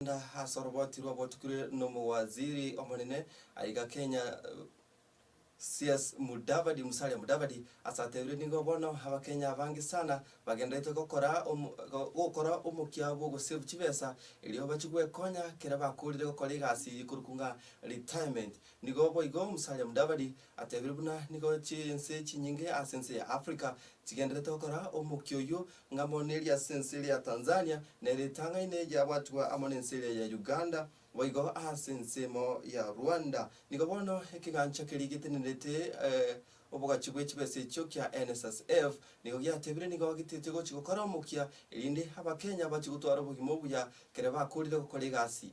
Korende ase oroboti rwabotukire nomowaziri omonene aiga Kenya CS Mudavadi Musalia Mudavadi ase atebire nigo bono abakenya abange sana bagenderete gokora gokora omokia bw'ogosave chibesa erio bache gwekonya kere bakorire gokora egasi eye korokwo ng'a retirement. Nigo boigo Musalia Mudavadi atebire buna nigo chinse chinyinge ase ense ya Africa chigenderete gokora omokia oyio Ng'amoni eria ase ense eria ya Tanzania ne ritang'aine yabwatigwa amo nense eria ya Uganda, boigo ase ense emo ya Rwanda. Nigo bono ekegancha keria getenerete obogachi bwe chibesa echio kia NSSF nigo giatebire nigo gitaete gochi gokora omokia erinde Abakenya bache gotwara obogima obuya kere bakorire gokora egasi.